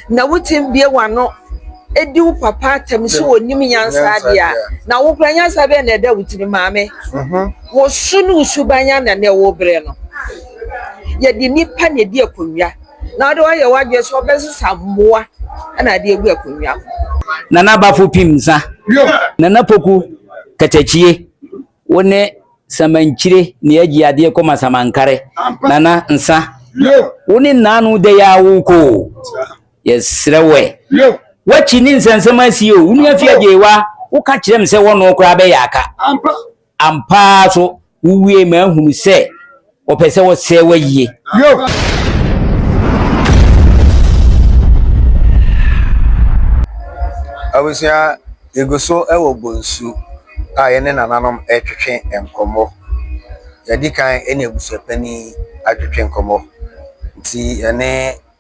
Na wotumi bue wɔn ano di wo papa atɛm sɛ wɔnim nyansa deɛ a, na wo kora nyansa bɛn na ɛda wo tirim? Maame, wo so ne wo suban ara na nnɛ worebrɛ no. Yɛde nnipa na ɛdi akonnwa, na wode woayɛ w'adwene sɛ wobɛsesa mmoa na ade agu akonnwa ho. Nana Bafo Pim Nsa, Nana Poku Katakyie. Wo ne samankyire na yɛgye adeɛ kɔma samankare, nana nsa. Wo ne nnaano dɛ yɛ awo kɔ o, yɛsrɛ wo ɛ. W'akyi ne nsɛnsɛm asie o, wo nua fiagye wa, woka kyerɛ me sɛ wɔno koraa bɛyɛ aka. Ampa ara so, wowiee m'ahunu sɛ. wɔpɛ sɛ wɔsɛe wo ayie abusua yɛgu so wɔ bonsu a yɛne nananom retwetwe nkɔmmɔ yɛdi kan ne abusua panin atwetwe nkɔmmɔ nti yɛne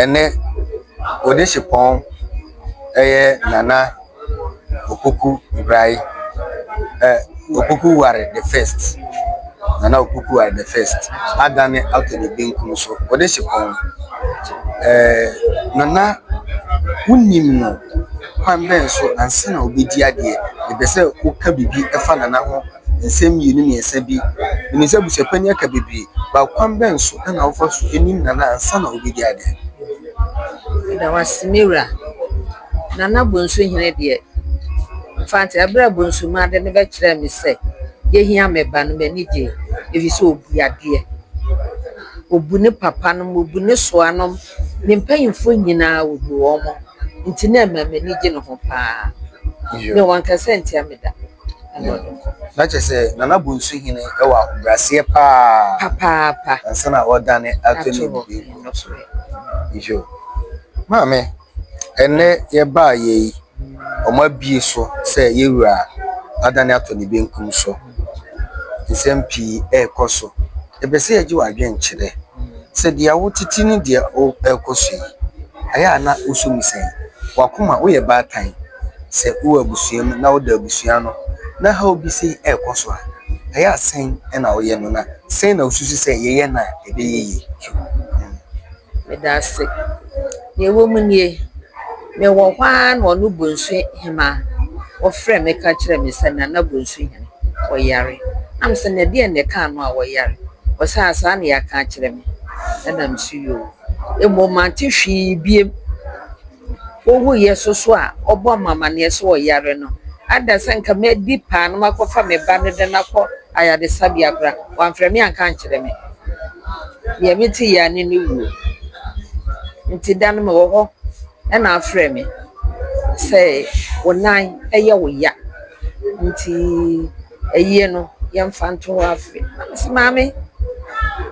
Ɛnnɛ, Onisipɔn yɛ Nana Opoku Ngraye, ɛ Opoku Ware the First, Nana Opoku Ware the First, adane ato ne benkum so. Onisipɔn, ɛɛ Nana wonim no kwan bɛn so ansa na wobɛdi adeɛ? Mepɛ sɛ woka biribi fa Nana ho. nsɛm mmienu mmiɛnsa bi. Menim sɛ abusuapɛn yi aka bebree, but kwan bɛn so na wofa so nim Nana ansa na wobɛdi ade? Meda wo ase me wura. Nana Bonsuhene deɛ, Mfantse, berɛ a Bonsumaa de no bɛkyerɛɛ me sɛ yɛhia me ba no, m'ani gyee, ɛfiri sɛ ɔbu adeɛ. Ɔbu ne papanom, ɔbu ne soanom, ne mpanimfoɔ nyinaa ɔbu wɔn, nti na ɛma m'ani gye ne ho pa ara. Mewɔ nkasa ntia me da. Na kyerɛ sɛ Nana Bonsu hene wɔ ahobrɛaseɛ paa papaapa ansa na ɔdane ato ne bibie so yo maame ɛnɛ yɛbaa yɛ yi ɔmo abie so sɛ yɛwura adane ato ne benkum so nsɛm pii ɛɛkɔ so. Epɛ sɛ egye w'adwen kyerɛ sɛ deɛ wo tete ne deɛ wo ɛrekɔ so yi ɛyɛ a na wo so mu sɛn? W'akoma, wo yɛ baatan sɛ wo wɔ abusua mu na wo da abusua ano na haw bi sei ɛrekɔ so a, ɛyɛ a sɛn na wo yɛ no na sɛn na wo susu sɛ yɛ yɛ no a ɛbɛyɛ yie? Medase. Nea ɛwɔ mu nie. Mewɔ hɔ ara na ɔno bonsu hemaa ɔfrɛɛ me ka kyerɛɛ me sɛ, Nana bonsu hene, ɔyare. Na mese no, Ɛdeɛn na ɛkaa no a ɔyare? Ɔse, Ah, saa na yɛaka akyerɛ me. Ɛna mese, Yoo. Mmom mante hwee bio. Ɔwuiɛ so so a ɔbɔɔ me amanneɛ sɛ ɔyare no, ada sɛ nka mɛdi paa na makɔfa me ba no de no akɔ ayaresabea koraa. Wɔamfrɛ me anka ankyerɛ me. Deɛ mete yea ne ne wuo. Nti da no me wɔ hɔ ɛna afrɛ me sɛ wo nan ɛyɛ wo ya nti ayie no yɛmfa nto hɔ afe. Na me se maame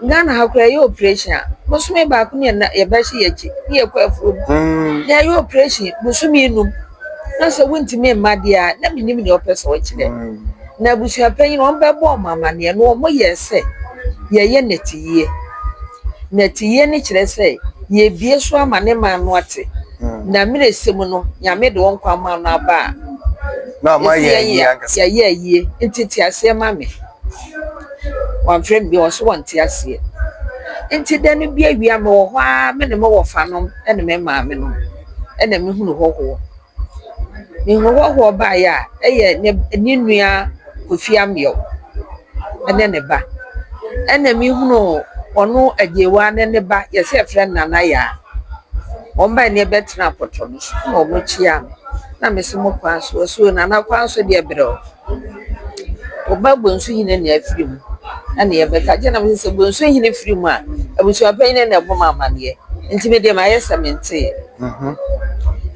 Ghana ha koraa yɛyɛ operation a bosome baako ne yɛbɛhye yɛn akyi ne yɛkɔ afuom. Na yɛyɛ operation bosome num. na sɛ wontumi mma deɛ a, na menim deɛ ɔpɛ sɛ ɔkyerɛ. Na abusua panyin no, wɔbɛbɔ wɔn amanneɛ na wɔyɛ sɛ yɛyɛ nnɛteyie. Nnɛteyie no kyerɛ sɛ yɛbue so ama ne man no ate. Na mmerɛ sɛ mu no, Nyame de wo nkwa ama no aba a, yɛyɛ ayie. Nti te aseɛ ma me. Wɔamfrɛ me bio, wɔse wɔnte aseɛ. Nti da no bi awia mewɔ hɔ ara me ne me wɔfanom ne me maame no. na mehunu hɔhoɔ. Mehunu hɔhoɔ baeɛ a, ɛyɛ ne b ne nua Kofi Ameyɔk ne ne ba. Ɛna mehunu ɔno Agyewaa ne ne ba, yɛse yɛfrɛ no Nana Yaa. Wɔbae na yɛbɛtenaa pɔtɔ no so na wɔkyeaa me. Na mese mo kwan so, wɔse o Nana kwan so deɛ brɛoo. Ɔba bonsu hene na afiri mu na nea ɛbɛka gye na sɛ bonsu hene firi mu a abusua panyin na ɛbɔ mu amaneɛ nti me deɛ mayɛ sɛ menteɛ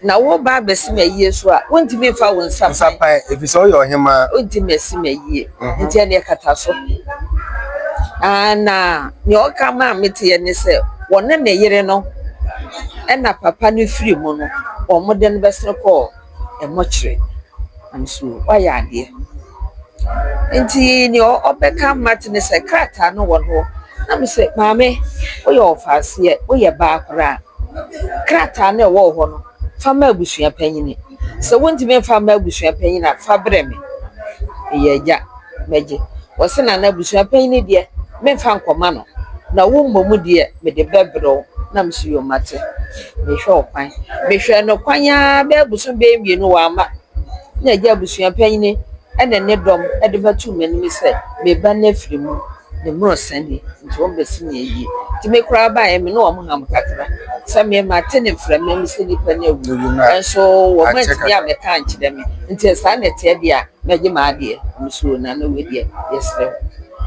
na wo ba abɛsi me ayie so a wontumi nfa wo nsa pan ɛfiri sɛ woyɛ ɔhemaa wontumi asi me ayie mhm. nti ɛne ɛkata so na nea ɔka ma a meteɛ ne sɛ wɔne ne yere no ɛna papa no firi mu no wɔn de no bɛsene kɔɔ mɔkyerɛ nanso wayɛ adeɛ. Nti deɛ ɔbɛka Marthe ne sɛ, krataa no wɔ ne hɔ? Na me se, maame woyɛ ɔfaaseɛ, woyɛ baa koraa. Krataa no a ɛwɔ wo hɔ no, fa ma abusua panin. Sɛ wontumi mfa mma abusua panin a, fa brɛ me. Meyɛ agya. mɛgye. Ɔse na n'abusua panyin no deɛ menfa nkɔma no na wo mmom deɛ mede bɛbrɛ wo na mese yoo mate. Mehwɛ ɔkwan. Mehwɛɛ no kwan aa bɛyɛ bosom bɛyɛ mmienu wamma na agya abusua panyin ɛne ne dɔm de bɛtoo m'anim sɛ me ba no afiri mu ne mmorɔ sa ni nti wɔn bɛsi no ayie. Nti me koraa baeɛ me ne wɔn ham kakra sɛ me mate ne mframa mu sɛ nipa no awu nanso wɔn antumi ammɛka ankyerɛ me nti sɛ saa na ɛteɛ deɛ a Mɛgye m'adeɛ. Mesuro na na wei deɛ yɛsrɛ wo.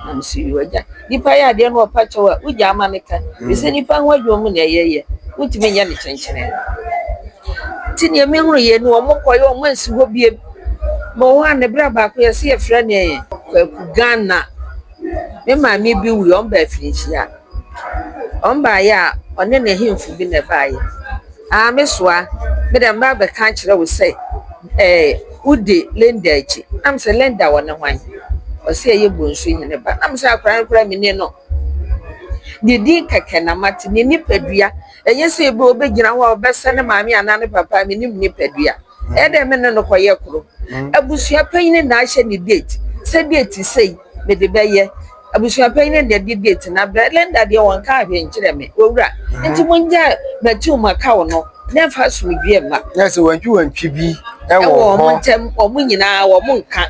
Na me se yoo agya. Nipa yɛ adeɛ na ɔpa kyɛw a wogyaa ma no ka. Ɛfiri sɛ nipa ho adwuma mu na ɛyɛ yɛ. Wontumi nyɛ no kyenkyenee. Nti deɛ me hunu yɛ ni wɔn kɔ yɛ wɔn ansi hɔ bio. Bɛ wɔ hɔ a ne berɛ baako yɛse yɛfrɛ no ɛɛ Kwaku Ghana. Me maame bi wuiɛ wɔn baa afirinhyia. Wɔn baeɛ a, wɔne n'ahemfo bi na ɛbaeɛ. Aa me soa, me deɛ mɛba abɛka akyerɛ wo sɛ ɛɛ wodi Linda akyi. Na me sɛ, Linda wɔne hwan? Ɔse ɛyɛ Bonsu Hene ba. Na me sɛ, akwadaa no koraa mennim no. Ne din kɛkɛ na mate, ne nipadua. Ɛnyɛ sɛ ebia ɔbɛgyina hɔ a ɔbɛsɛ ne maame anaa ne papa, mennim ne nipadua. Ɛyɛ dɛ me ne no kɔyɛ koro. Abusua panyin na ahyɛ ne date sɛ date sei mede bɛyɛ. Abusua panyin na ɛde date no abrɛ. Linda deɛ wɔnkaa hwee nkyerɛɛ me. Owura, nti mongyae Matiu Makau no na ɛmfa asomdwoeɛ mma. Yɛ sɛ wantwiwantwi bi wɔ hɔ. Ɛwɔ wɔn ntam, wɔn nyinaa wɔnka.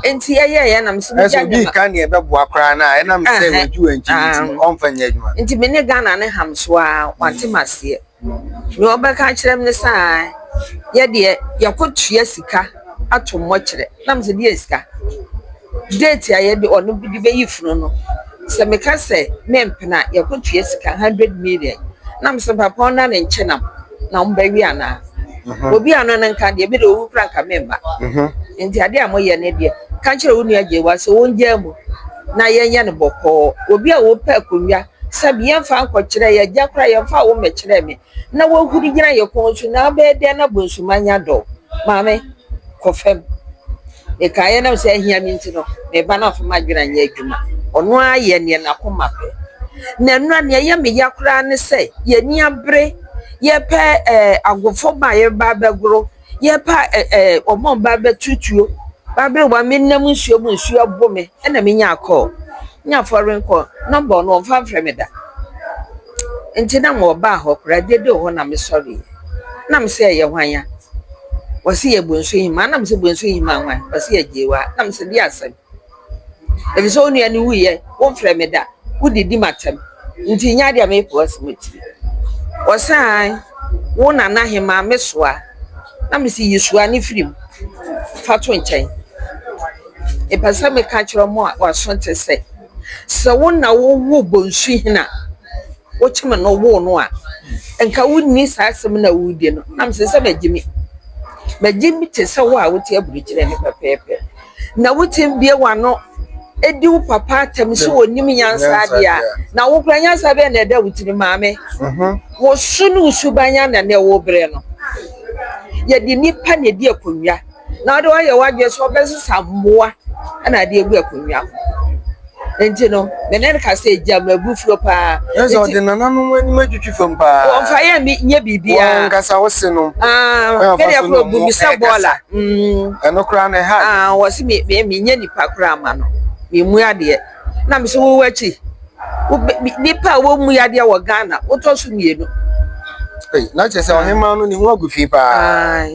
Nti ɛyɛeɛ na mesɛ mogya ne ma. Ɛsɛ obi ka neɛ ɛbɛboa koraa no a, ɛnam sɛ wantwiwantwi nti ɔmfa nyɛ adwuma. Nti me ne Ghana no ham so ara, wante m'aseɛ. Deɛ ɔbɛka akyerɛ me ne sɛ aa yɛ deɛ yɛkɔtua sika ato mmɔkyerɛ. Nam sɛ deɛ sika date a yɛde ɔno de bɛyi funu no, sɛ meka sɛ mempene a yɛkɔtua sika hundred million. Nam sɛ papa wo nane nkyɛ nam na wobɛwe anaa? Obi a ɔno no nka deɛ me deɛ ɔwu koraa nka memma. Nti adeɛ a moyɛ no deɛ ka kyerɛ wo nua Gyewaa sɛ ɔngyaa mu na yɛnyɛ no bɔkɔɔ. Obi a ɔpɛ akonnwa Sɛbi yɛmfa nkɔ kyerɛ yɛ gya koraa yɛmfa wo mmɛkyerɛ me na wahuri gyina yɛ kɔn so na abɛyɛ dɛn na bonsuma anya dɔ maame kɔ fam mekaeɛ nam sɛ ahia me nti no me ba no amfa m'adwene anyɛ adwuma ɔno ara yɛ neɛ n'akoma pɛ na nnura neɛ ɛyɛ me ya koraa ne sɛ yɛni abere yɛpɛ ɛɛ agofo ba yɛba bɛgoro Yɛrepɛ a ɛ ɛ wɔbɔɔ me baa bɛto tuo. Baa bere wa menam nsuo mu nsuo abo me ɛna menya kɔɔ. Nya fɔren kɔɔ nɔmba ɔno ɔmfa mfrɛ me da. Nti na mewɔ baa hɔ koraa de de hɔ na me sɔreɛ. Na me se ɛyɛ hwan ya? Wɔse yɛ Bonsu Hemaa na me se Bonsu Hemaa hwan? Wɔse yɛ Gyeewaa na me se deɛ asɛm. Efisɛ wo nua no wuiɛ, womfrɛ me da, wodidi m'atɛm, nti nyɛ adeɛ a mɛyi po asi m'atiri. Ɔsaan, wo nana hemaa me soa, na mese yi soa no firi mu fa to nkyɛn. Mepɛ sɛ meka kyerɛ mo a wɔaso te sɛ, sɛ wo na wowoo Bonsuhene a wokyem no woo no a, nka wonni saa asɛm no a woredi no, na mese sɛ magyimi. Magyimi te sɛ wo a wote aburokyire no pɛpɛɛpɛ. na wo tsim bue w'ano di wo papa atam sɛ onnyim nyansa adze a, na wo koraa nyansa bɛn na ɔda wo tsir mu? Maame, wo su no wo suban ana na ɔwɔ ber no? Yɛdze nyimpa na edzi akonnwa na ɔdze ɔayɛ w'adwen sɛ ɔbɛsesa mbowa na adze egu akonnwa ho. Enti no, me ne no ka sɛ, 'Gya m'abufuo paa. Nanso ɔde nananom anim atwitwi fam paa. Wɔmfa yɛn nyɛ biribiara. Wɔn ankasa wosenom. Ah, me deɛ koro bu me sɛ bɔɔla. Ɛno koraa na ɛha. Ah, wɔ se me me menyɛ nipa koraa ma no. Memu adeɛ. Na me sɛ wowɔ akyi. Nipa a wɔmu adeɛ wɔ Ghana, wotɔ so mmienu. Na kyerɛ sɛ ɔhemaa no ne ho agu fi paa.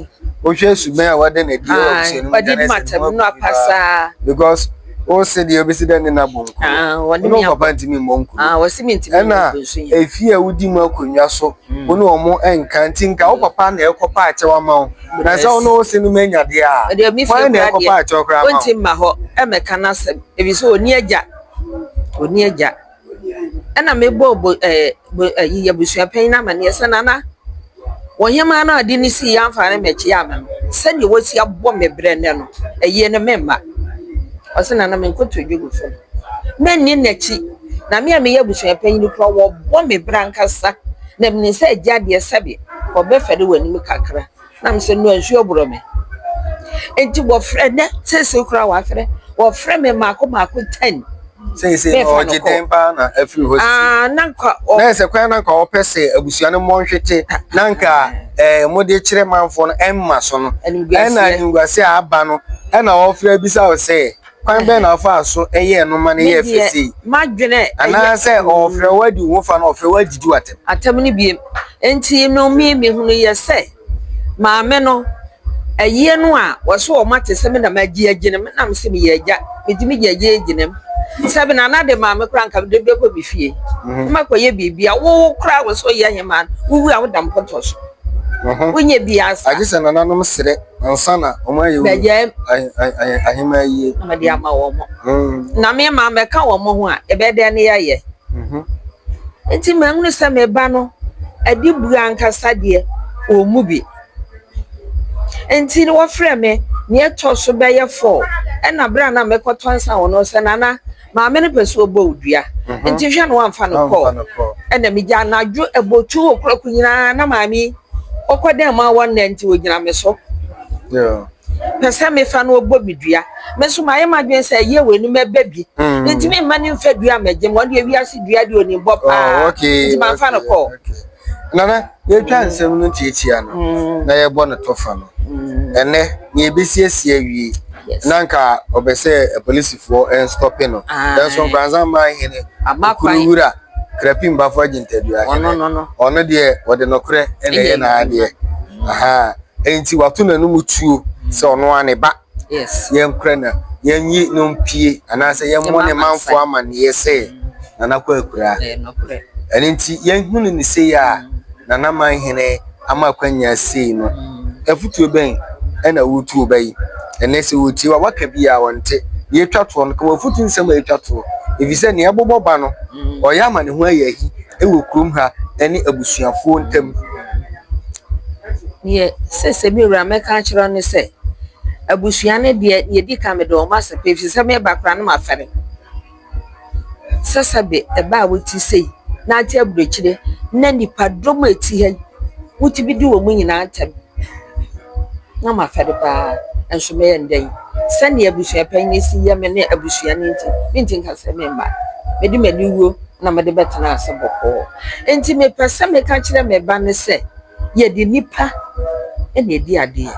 Wohwɛ suban a wɔde no adi wɔ abusua no mu. Wɔde di matam no apasaa. Because wo se deɛ wobɛsi dɛ ne nabɔ nkuro wone wo papa ntimi mmɔ nkuro ɛna ɛfie a wodi mu akonnwa so wo ne ɔmo ɛnka nti nka wo papa na ɛkɔ pa akyɛw ama wo na sɛ wo ne wo se no ma anya deɛ a wane na ɛkɔ pa akyɛw koraa ma wo ɔnti mma hɔ ɛmɛka no asɛm ɛfiri sɛ ɔni agya ɔni agya ɛna mebɔɔ bo ɛɛ bo ɛyi abusua panyin no amaneɛ sɛ nana ɔhemaa no a ɔde no sii amfa no mmɛkyia me no sɛdeɛ wasi abɔ me brɛ nnɛ no ayie no meremma ɔse nana menkoto dwa gu fam menni n'akyi na me a meyɛ abusua panyin no koraa wɔbɔ me brɛ ankasa na menim sɛ agya deɛ sɛbe ɔbɛfɛre w'anim kakra. Na mesɛ no nsuo borɔ me. Enti wɔfrɛ nɛ seesei koraa wɔafrɛ wɔfrɛ me mmaako mmaako ten. Seesei na ɔgye dɛn paa na afiri hɔ sisi. Ah, na nka ɔ. Na ɛsɛ kwan na nka ɔpɛ sɛ abusua no mmɔ nhwete na nka ɛɛ mode kyerɛ manfoɔ no ɛmma so no. Ɛna animguaseɛ a aba no ɛna ɔfrɛ bisa wo sɛ. Kwan bɛn na ɔfaa so yɛɛ no ma no yɛɛ fɛ sei? M'adwene Anaasɛ ɔfrɛ wo adi wo ho fa na ɔfrɛ wo adidi wo atɛm? Atɛm no biem. Enti no me mehunu yɛ sɛ maame no ɛyɛ no a wɔso wɔn ate sɛ me na magye agye no me nam se me yɛ agya me tumi gye agye agye no mu sɛ me na na de maame kora nka me de bɛkɔ me fie na makɔ yɛ biribi a wo kora wo so yɛ hemaa wo wu a wo da mpɔtɔ so wo nyɛ bi asa agye sɛ nananom serɛ ansa na wɔn ayɛ bɛyɛ ahemmaa yie na wɔde ama wɔn mm. na me ma mɛka wɔn ho a ɛbɛyɛ dɛn ne yɛyɛ mhm. nti mɛhunu sɛ me ba no adi bu ankasa deɛ wɔn mu bi nti wɔfrɛ me nea ɛtɔ so bɛyɛ fɔɔ ɛna berɛ a na mɛkɔtɔ nsa wɔn sɛ nana Maame no pɛ sɛ ɔbɔ wo dua, nti hwɛ na wamfa no kɔɔ. Ɛna megya anadwo abotwo okurako nyinaa na maame yi ɔkɔ dɛn ma wɔ nnɛ nti ɔgyina me so. Pɛ sɛ mefa no ɔbɔ me dua. Me nso mayɛ m'adwene sɛ ɛyɛ wei no mɛba bi. Mentumi mma no mfa dua mmɛgye me. Ɔno deɛ wiase dua deɛ ɔnim bɔ paa nti mamfa no kɔɔ. Nana, yɛatwa nsɛm no tiatia no na yɛbɔ no tɔfa no, ɛnnɛ na yɛbɛsiesie awie na anka ɔpɛ sɛ apolisifoɔ nstɔpe no, nanso Nkoranza man hene Okuru Wura Krapi Mbafo Agyintadua hene, ɔno deɛ ɔde nokorɛ na ɛyɛ n'adeɛ, ɛnti wato n'anum tuo sɛ ɔno ara ne ba. yɛnkora no, yɛnyi no mpue anaasɛ yɛmmɔ ne manfo amanneɛ sɛ Nana Kwaku akura. Ɛno nti yɛhunu no sei a Nana Manhene ama akwanya sei no, afutuo bɛn na woretu ɔba yi? Ɛnnɛ sɛ wɔtie wo a, waka bi a ɔnte. Deɛ ɛtwa toɔ no, ka w'afotu nsɛm a ɛtwa toɔ. Ɛfiri sɛ deɛ ɛbobɔ ba no, ɔyɛ ama ne ho ayɛ ahi wɔ kurom ha ne abusuafoɔ ntam. Deɛ seesei me wura mɛka akyerɛ wo ne sɛ, Abusua no deɛ, deɛ ɛdi kan mede wɔn asɛ pa ɛfiri sɛ me ba koraa na mafɛre. Sɛsɛbe ɛbaa a wote sei na ate aburokyire na nnipadɔm a ɛte ha yi, wotumi bi di wɔn nyinaa ntɛm. Na mafɛre pa ara nso mɛyɛ no dɛn. Sɛdeɛ abusua panin yi si yɛ me ne abusua no nti, merente nka sɛ meremma. Mede m'aniwuo na mede bɛtena ase bɔkɔɔ. Enti mepɛ sɛ meka kyerɛ me ba no sɛ. yɛde nnipa na ɛdi adeɛ.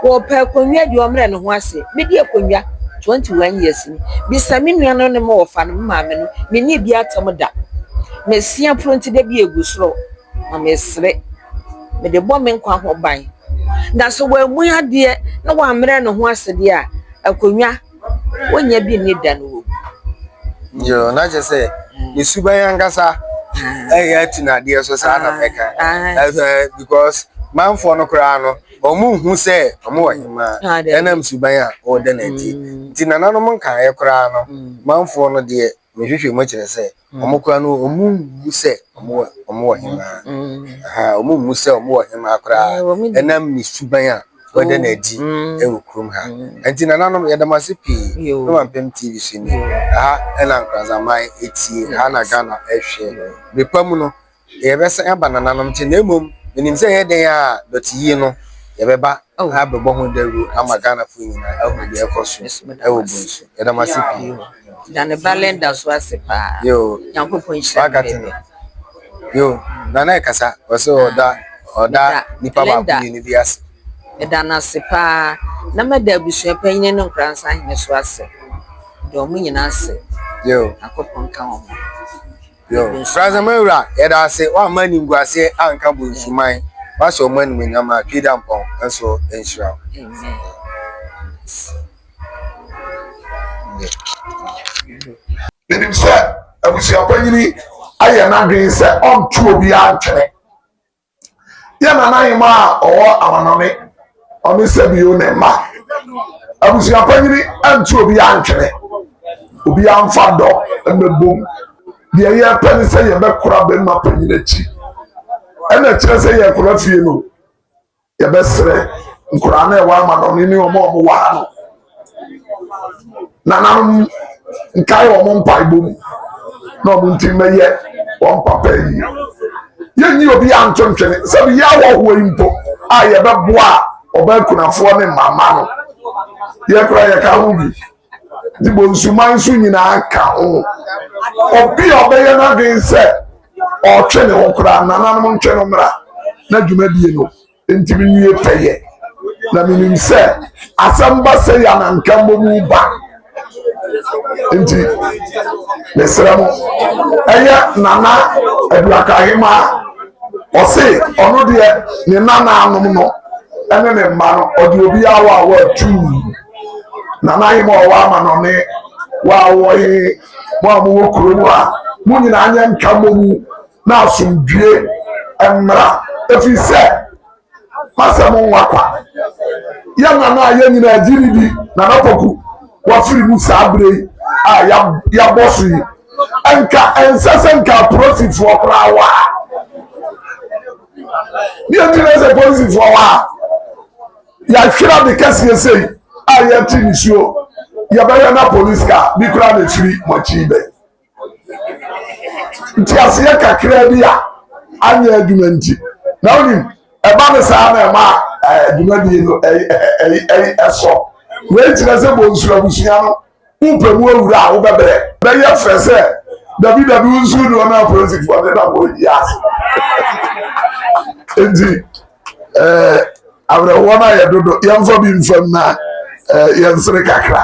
Ɔɔpɛ akonnwa deɛ ɔmmerɛ ne ho ase. Me di akonnwa twenty one years ni. Bisa me nua no ne me wɔfa no, me maame no, me nni bi atam da. Me se aporɔ nti da bi a ɛgu soro na me sere. Me de bɔ me nkwa ho ban. Na sɛ wammu adeɛ na wammerɛ ne ho ase deɛ a, akonnwa. Wonnya bi nni da no wɔwu. Yoo, na kyerɛ sɛ ne suban ankasa ɛyɛ atu n'adeɛ so saa na mɛka ɛsɛ because manfoɔ no koraa no wɔn hu sɛ wɔn wɔ hemaa ɛnam suban a wɔda n'adi nti nananom nkaeɛ koraa no manfoɔ no deɛ mehwehwɛ mu kyerɛ sɛ Wɔn koraa no, wɔmmu sɛ wɔn wɔ hemaa. Wɔmmu sɛ wɔn wɔ hemaa koraa ɛnam ne suban a wɔda no adi wɔ kurom ha. Nti nananom, yɛda mo ase pii. Ne Mampem TV so ni. Ɛha na Nkoranzaman tie, ɛha na Ghana hwɛ. Bere pa mu no, deɛ yɛbɛsan aba nananom nkyɛn na mmom menim sɛ ɛyɛ dɛn a dɔte yie no yɛbɛba oh. abɛbɔ ho dawuro ama ghanafoɔ nyinaa ahu deɛ ɛkɔ so ɛwɔ bonsu yɛda mo ase pii da ne ba lenda so ase paa yo nyankopɔn nhyira wakate no yo nana ɛkasa ɔsɛ ɔda ɔda nipa baako mmienu bi ase ɛda no ase paa na mɛda abusua panyini no nkoransa hene so ase deɛ ɔmo nyinaa ase yo akɔpɔn ka wɔn Nsorasɛm Wura, yɛda wo ase, woamma animguaseɛ anka Bonsuman. Woahyɛ wo mu animuonyam a Tweedampɔn nso nhyira wo. Menim sɛ abusuapanyini ayɛ n'adwene sɛ ɔnto obiara ntwene. yɛ nanahemaa a ɔwɔ amannɔne, ɔne Sebio ne mma. Abusua panyin antu obiara ntwene, obiara mfa dɔ mmɛbom. Deɛ yɛpɛ ne sɛ yɛbɛkora bɛrima panyin akyi. Ɛna ɛkyerɛ sɛ yɛkora fie no, yɛbɛsrɛ nkoraa no a ɛwɔ amannɔne ne wɔn a wɔwɔ ha no. nananom nkae wɔn mpaebɔ mu na wɔn nti mmɛyɛ wɔn papa yi yɛnyi obi anto ntwene sɛ bi yɛ awɔhoɔ yi mpo a yɛbɛboa a ɔbaa kunafoɔ ne mama no yɛkora yɛka ho bi nti bɔ nsuman nso nyinaa ka ho obi a ɔbɛyɛ n'adwene sɛ ɔtwe ne ho koraa nananom ntwe no mmra na dwumadie no Enti miwie pɛyɛ, na minim sɛ asɛm ba sɛ yɛ na nka mmom woba. Enti mesrɛ mo, ɛyɛ Nana Aduaka Ahemaa, ɔse ɔno deɛ ne nanaanom no ne ne mma no, ɔde obiara wɔ a wɔatuu. Nana Ahemaa ɔwɔ amanɔne, wɔ a wɔwɔ he, mo a mowɔ kurom a, mo nyinaa nyɛ nka mmom na asomdwoe mmra, ɛfiri sɛ masɛ mo nwa kwa. Yɛn nana a yɛn nyinaa gye ne di, Nana Poku, wafiri mu saa berɛ yi a yɛabɔ so yi. Nka ɛnsɛ sɛ nka apolisifoɔ koraa wɔ ha. Ne ɛti na sɛ polisifoɔ wɔ ha, yɛahwera de kɛseɛ sei a yɛte nisuo, yɛbɛyɛ na polisi ka bi koraa na ɛfiri mo akyi bɛ. nteaseɛ kakraa bi a anyɛ adwuma nti na wonim ɛba no saa na ɛma adwumadie no ɛsɔ wei kyerɛ sɛ bonsu abusua no wopɛ mu awura a wobɛbrɛ bɛyɛ fɛ sɛ dabi dabi wo nsu doɔ no apolisifoɔ ne na wɔyi ase nti awerɛhoɔ no ayɛ dodo yɛmfa bi mfam na yɛnsere kakra